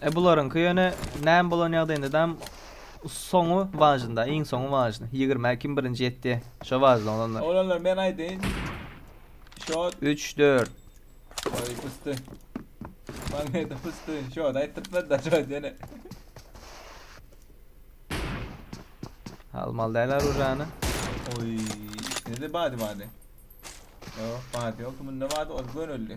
E bularyňky ýöne näme bolan ýagdaýynda dam soňy wajnda iň soňy wajny ýigrimä kim birinji ýetdi şo wajny olanlar. Olanlar men aýdaýyn. Şot. Üç dört. Oý pysty. Magnete pysty. Şot aýtdyrtmady da şot ýene. Almaly däl arujany. Oý ikisinde bady bady. Ýok bady ýok kiminde bady ol gönüldi.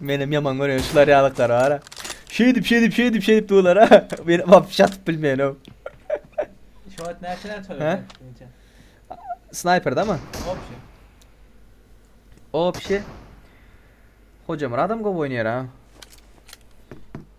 Menem yaman görýän şular ýalyklar bar. Şeýdip şeýdip şeýdip şeýdip duýlar ha. Men wap şatyp bilmeýän o. Şu wagt näçe näçe Ha? öýrendin? Snayperde mi? Obşi. Obşi. Hojamyrat hem gowy oýnaýar ha.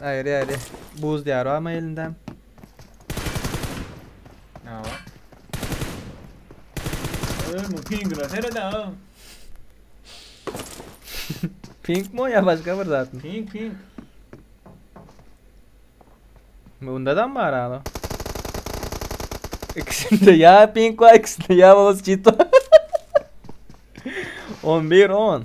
Aýry aýry. Buz diyar var mı elinde? Ne var? Ömür pingine seyret ha. Pink mi o ya başka bir zat mı? Ping ping. Bunda da mı var abi? İkisinde ya pink var ikisinde ya babası çit var. 11 10.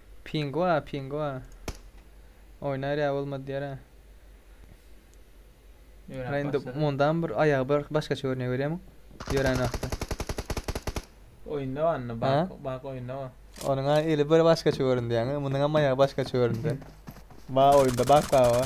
Pingua pingua. Oýnar ýa bolmady diýere. Ýöräp Indi başlady. mundam bir aýagy bir başgaça görünýär görýärmiň? Ýörän wagty. Oýunda wanda Ha? bak bak oýunda wa. Onuň ha eli bir başgaça göründi ýaňy. Munuňam aýagy başgaça göründi. Ba oýunda bak baba.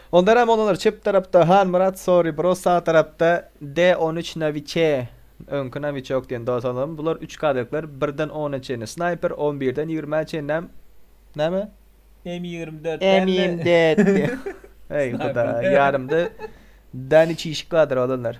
Ondan hem olar çep tarapda Hanmyrat Sorry Bro sag tarapda D on üç Nawiçe öňki Nawiçok diýen dosanlarymyz bular üç kadrikler birden ona çenli snaýper on birden ýigrimä çenli hem näme M ýigrimi dört M ýigrimi dört Heý hudaý ýarymda Daniçişik kadr olanlar.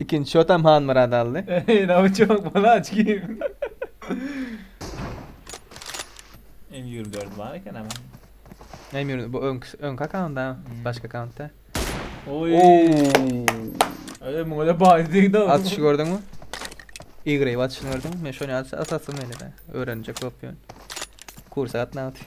Ikinji şotam Hanmyrat aldy. Eý, nawyçak balaç kim? M24 bar eken ama. Näme ýörün? Bu öňki öňki akkauntda, Hmm. başga akkauntda. Oý. Öýe muňa da baý diýdi. Atyşy gördüňmi? Ýygryp atyşyny gördüňmi? Men şony as- asasym gelýär. Öwrenjek bolup ýörün. Kursa gatnamak üçin.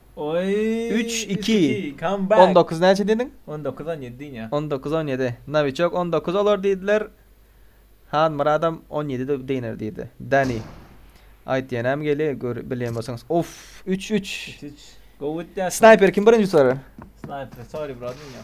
Üç iki On dokuz näçe diýdiň? On dokuz on ýedi diýin ýa. On dokuz on ýedi. Nawiçok on dokuz olar diýdiler. Hanmyradam on ýedi deginer diýdi. Dani. Aýt ýenäm geli gör bilýän bolsaňyz. Of üç üç. Üç üç. Gowy ötýär. Snayper kim birinji utarar? Snayper sorry bro diýin ýa.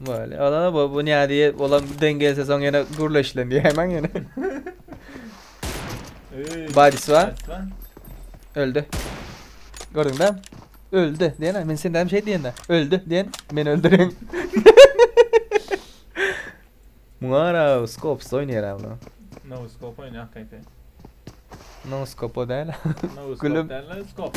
Bale, ola-da bu, bu näde ýe, olam deň gelse soň ýene gürleşilen diýäýmäň ýene. Öý, Badisi bar. Badisi bar. Öldü. Gördüňdä? Öldü. Diýene, men senden hem şey diýende, öldü diýen, men öldüren. Muňa ara skopsuz oýnaýar ha bu. No scope oýnaýar hakgaýta. No skopo däl. No Gülüm. scope däl, skop.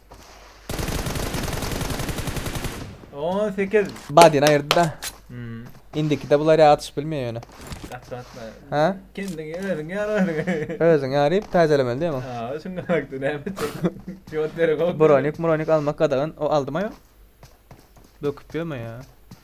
On sekiz. Badini aýyrdy da. Hmm. Indiki de bular ýa atyşyp bilmeýär ýöne. Atla atla. Ha? Kendiňi özüňi ýar özüňi. Özüňi ýaryp täzelemeli diýemok. Ha, şunda hakda näme etjek? Jogap berek ok. Bronik, bronik almak gadagan. O aldyma ýok. Döküp ýörme ýa.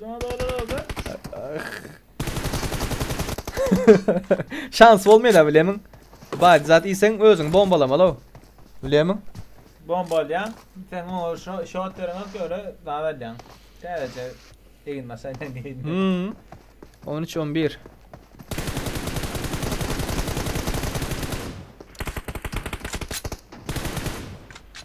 Cana dağlar aldı. Şans bolmaýar da bilemin. Bad zat iýseň özüň bombalamaly o. Bilemin. Bomba alýan. Sen o şo şot berene göre zat alýan. Täzeçe egin maşyn diýdi. Hmm. 13 11.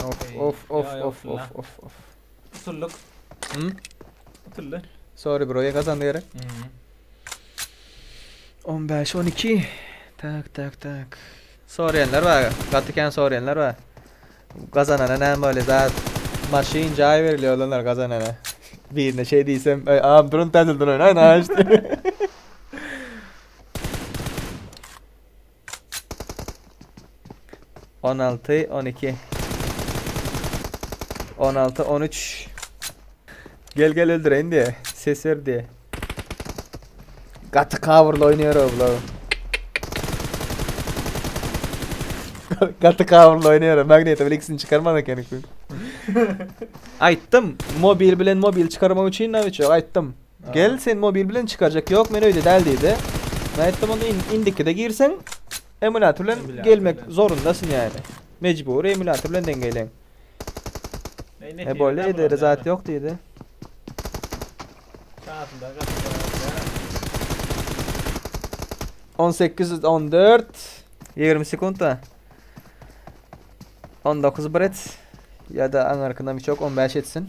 Of Ey, of of ya, ya, of of Abdullah. of of. Utulduk. Hmm? Utuldy. Sorry bro, ýa gazandy gerek. Mhm. 15 12. Tak tak tak. Soraýanlar bar, gaty kän soraýanlar bar. Gazanana näme bolýar? Zat maşyn jaý berilýär olanlar gazanana. Birine şey diýsem, "Ey, am durun täzelden oýnaýyn aýş." diýip. On alty, on iki. On alty, on üç. Gel gel öldüreýin diýe. Ses ber diýe. Gaty kabyrly oýnaýar bular. Gaty kabyrly oýnaýar. Magneta bile ikisini çykarmaz eken ikisi. Aýtdym, mobil bilen mobil çykarmak üçin nawiç ýok, aýtdym. Gel, seni mobil bilen çykarjak. Ýok, men öýde däl diýdi. Men aýtdym, onda indikide girseň, emulýator bilen gelmek zorundasyň ýaly. Mejbury emulýator bilen deňeýleň. E boldy, edere zat ýok diýdi. On sekiz, on dört, ýigrimi sekuntda. On dokuz bir et. Ýa-da aňarkyndan biçok on bäş etsin.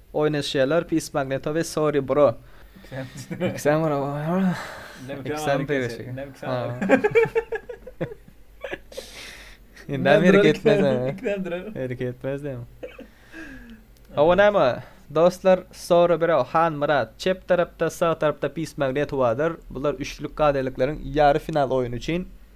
Oýnaşýarlar Peace Magneto we Sorry Bro. Ikisem bro. Ikisem degişik. Näme ýere gitmez. Ikisem durar. Ýere gitmez diýen. Awa näme? Dostlar, Sorry Bro, Han Myrat, çep tarapda, sag tarapda Peace Magneto bardyr. Bular üçlük gadyrylyklaryň ýary final oýny üçin.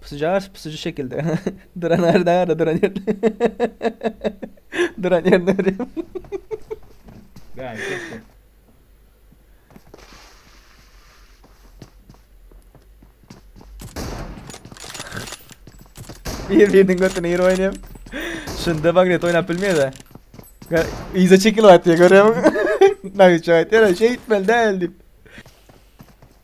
Pysyjars pysyjy şekilde duran arda arda duran ýerde duran ýerinde görýän. Bäh, çekdi. Bir biriniň götüne ýer oýnaýan. Şunda magnet oýnap bilmeýär-de. Ga- Yza çekilip atýar görýärmiň? Naýça aýtýar, "Şeýtmeli däl" diýip.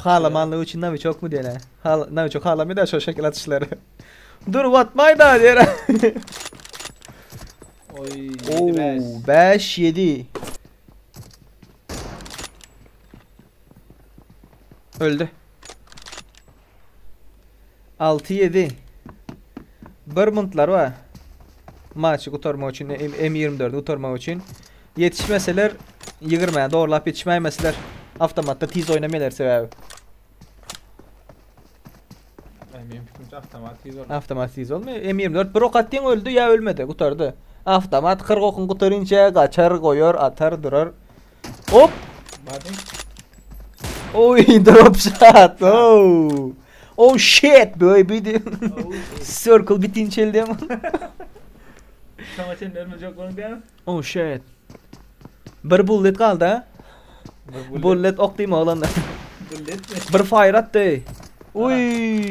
Halamanlygy üçin nawiçokmy diýen hä? Nawiçok halamaýar da şol şekil atyşlary. Durup atmaý da diýen hä? Oý, ýedi bäş. Oo, 5 7. Öldü. Alty ýedi Bir muntlary bar. Maçy gutarmak üçin, M ýigrimi dördi gutarmak üçin. Ýetişmeseler ýigrimä zorlap ýetişmäýmeseler awtomatda tiz oýnamaýlar sebäbi. Ä, meniň pikirimçe awtomat tiz bolmaýar. Awtomat tiz bolmaýar. M ýigrimi dört bir ok atdyň öldi ýa ölmedi, gutardy. Awtomat kyrk okuň gutarynça gaçar, goýar, atar, durar. Hop. Body. Oy drop shot. Oh. Oh shit baby. Circle bitin çeldem. Şoňa çenli ölmejek bolun diýen. Oh shit. Bir bullet galdy. Bullet ok diýme oglanlar. Bullet. Bir fire atdy. Uy.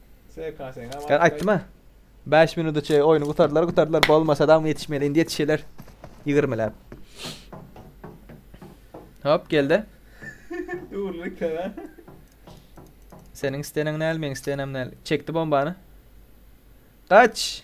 SKS-ňa Ýa aýtdym-a. Bäş minuda çeýe oýny gutardylar, gutardylar. Bolmasa dagmy ýetişmeli. Indi ýetişerler. Ýigirmiläp. Hop, geldi. Dürli köre. Seniň isteneň näl, meň istenem näl. Çekdi bombany. Gaç!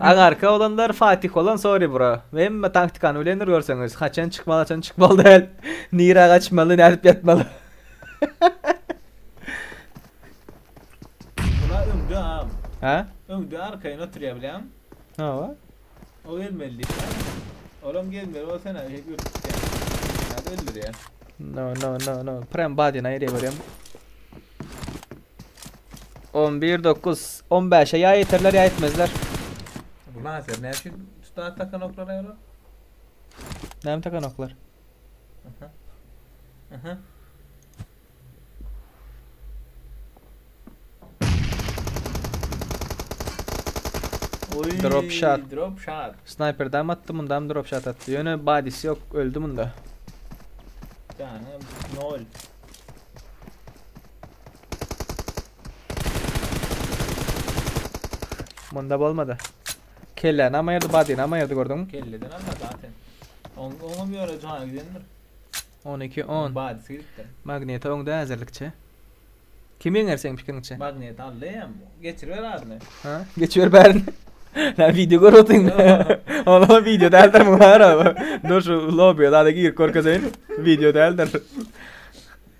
Aňarky oglanlar Fatih bolan sorry bro. Hemme taktikany bilendir görseňiz. Haçan çykmaly haçan çykmaly däl. Nirä gaçmaly nädip ýatmaly. Bula öňde am. Hä? Öňde arkaýyn oturýa bilen. Hawa. O gelmeli diýip. Olam gelmeli o sen hep öpüpdi. Hadi öldürýä. No no no no. Prem badin aýry görýän. On bir dokuz. On bäşe ýa ýeterler ýa ýetmezler. Bu lazer näme üçin tutar takan oklar ýaly? Näme takan oklar? Aha. Aha. Oy, Drop shot. Drop shot. Snayperden mi atdy mundam drop shot atdy. Ýöne badisi ýok öldü munda. Canım nol. Munda bolmady. Kelle nama ýerde, bady nama ýerde gördüňmi? Kelleden alma zaten. On, oňam ýöne jana gidendir. 12 10. Badysy gidipdir. Magneta öňde äzelikçe. Kim ýeňer seň pikiriňçe? Magnet aldy hem. Geçiriber adyny. Ha? Geçiber bärini. Lan video görüp otyň. Ola video däldir bu bara. Dur şu lobiýa zada girip görkezeýin. Video däldir.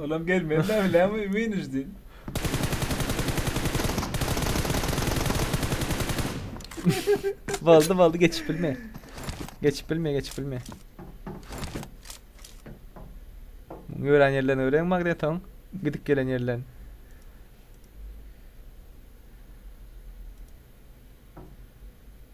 Olam gelmeli däl bilämi imynijdi. Boldy boldy geçip bilme. Geçip bilme geçip bilme. Gören yerlerini öğren magneton. Gidip gelen yerlerini.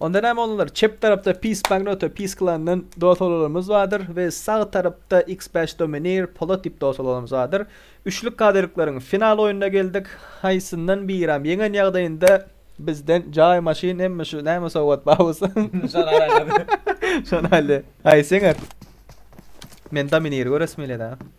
Onda näme oglanlar çep tarapda Peace Magnoto Peace Klandan dost oglanlarymyz bardyr we sag tarapda Xbash Domineer Polat diýip dost oglanlarymyz bardyr. Üçlük kadirlikleriň final oýnuna geldik. Haýsyndan biram ýeňen ýagdaýynda bizden jaý maşyn hemme şu näme sowgat bar bolsa şony alaýlady. Şony alýa. Haýsy ýeňer? Men Domineeri göresim gelýä dagy.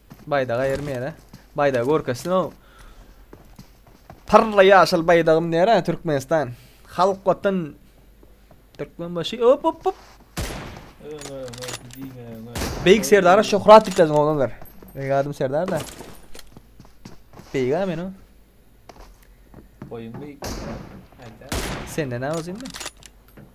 Baýdaga ýerim ýene. Baýdagy görkezsin-ow. Parla ýaşyl baýdagym nere Türkmenistan. Halk watan Türkmenbaşy op op op. Öňe öňe diňe öňe. Beýik Serdara şöhrat diklediň oglan bir. Beýik adym Serdar da. Beýik a meni. Boýuň beýik. Aýda. Senden a uzynmy?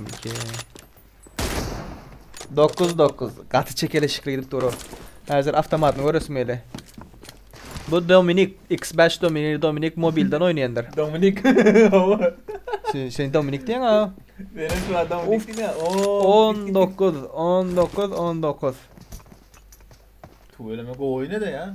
MK. 9 9 gaty çekeleşikli gidip dur o. Häzir avtomatyny göresim geldi. Bu Dominik X5 Dominik Dominik mobilden oýnaýandyr. Dominik. Sen, sen Dominik diýen ha. Benim şu adam Of. Dominik ne? Oo. 19 19 19. Tüweleme gowy ne de ya.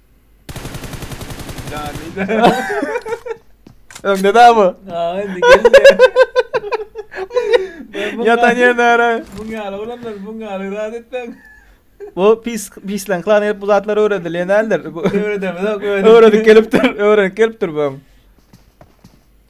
Öňde da bu. Ha, indi geldi. Ýatan ýerine gara. Muň ýaly bolanlar, muň ýaly zat etmäň. Bu pis pislen klan hep bu zatlar öwredilýän däldir. Bu öwredemizok. Öwredip gelipdir, öwredip gelipdir bu.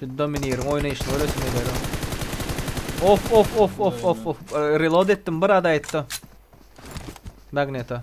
Şu Dominir'in oýnaýşyny göresim gelýär. Of of of of of of. Reload etdim bir ada etdi. Magneta.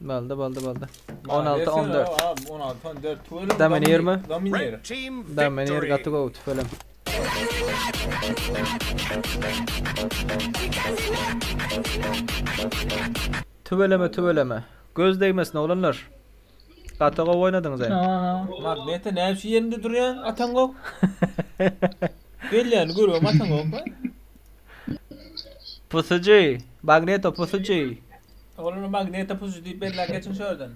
Balda balda balda. 16 14. Abi 16 14 tüweleme. Dominir mi? Dominir. Dominir gaty gowy tüwelem. Tüweleme tüweleme. Göz degmesin oglanlar. Gaty gowy oýnadyňyz hem. Magnete näme şu ýerinde durýan atan gok. Gelýän görüyorum atan gok. Pusucu, Magneto pusucu. Ogluna magneta pusu diýip bellän geçiň şu ýerden.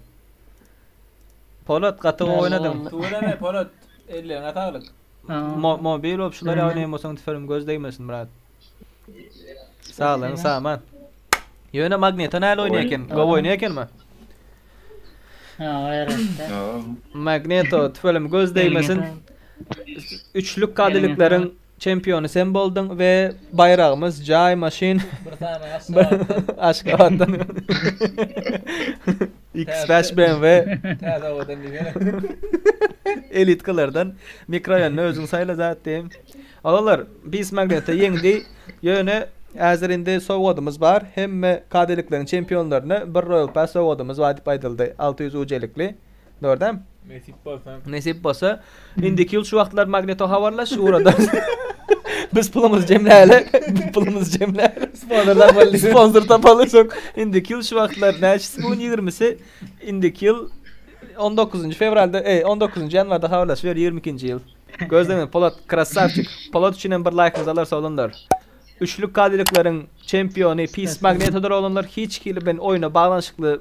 Polat gaty gowy oýnadyň. Tüweleme Polat elleriňe saglyk. Mobil bolup şular ýaly oýnaýan bolsaň tüferiň göz degmesin brat. Saglygyň saman. Ýöne magneta näl oýnaýa eken gowy oýnaýa ekenmi? Magneto tüferiň göz degmesin. Üçlük kadilikleriň Çempiony sen bolduň we baýragymyz Jaý maşyn Aşgabatdan X-Bash BMW Täze owadan diýsene Elitkalardan mikroraýonda özüň saýla zat diýen Agalar Beast Magneta ýeňdi ýöne häzir indi sowgadymyz bar hemme KD-likleriň çempionlaryna bir Royal Pass sowgadymyz bar diýip aýdyldy alty ýüz UC-likli Dogrudan? Nesip bolsa. Nesip bolsa. Indiki ýyl şu wagtlar Magneto habarlaş, uradan. Biz pulumuz jemläli, pulumuz jemläli. Sponsor tapaly. Sponsor tapaly soň. Indiki ýyl şu wagtlar näçesi bu 20-si? Indiki ýyl 19 fewralda, eý, 19 ýanwarda habarlaş, ber 22-nji ýyl. Gözleňiz, Polat krassavçik. Polat üçin hem bir laýkymyzy alarys oglanlar. Üçlük kadiliklerin çempiony Pis Magnetodyr oglanlar. Hiç hili bilen oýna baglanyşykly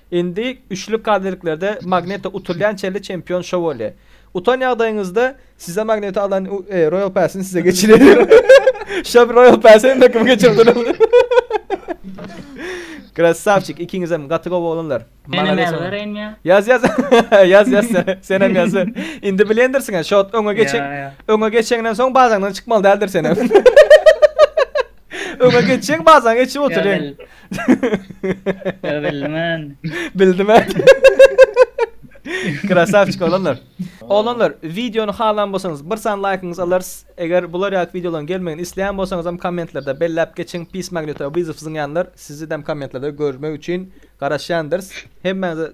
Indi üçlük kaziriklerde Magneta utulýan çenli çempion Şowalýe. Utan ýagdaýyňyzda size Magneta alan Roýal Päsini size geçireýin. Şow Roýal Päsi hemme kimi geçirdiler. Krassavçik ikiňizem gaty gowy oglanlar. Menem ýazylar enýa. Ýaz ýaz. Ýaz ýaz sen. Senem ýaz. Indi bilendirsiň ha şot öňe geçen. Öňe geçeňden soň bazaňdan çykmaly däldir senem. Öňe geçeň bazaň geçip oturyň. Ýa bildimen. Bildimen. Krasavçik oglanlar. Oglanlar wideony halan bolsaňyz bir san laýkyňyzy alarys. Eger bular ýaly wideolaryň gelmegini isleýän bolsaňyzam kommentlerde belläp geçiň. Pis magnitowyzyf zyňýanlar sizidem kommentlerde görmek üçin garaşýandyrys. Hemmäňize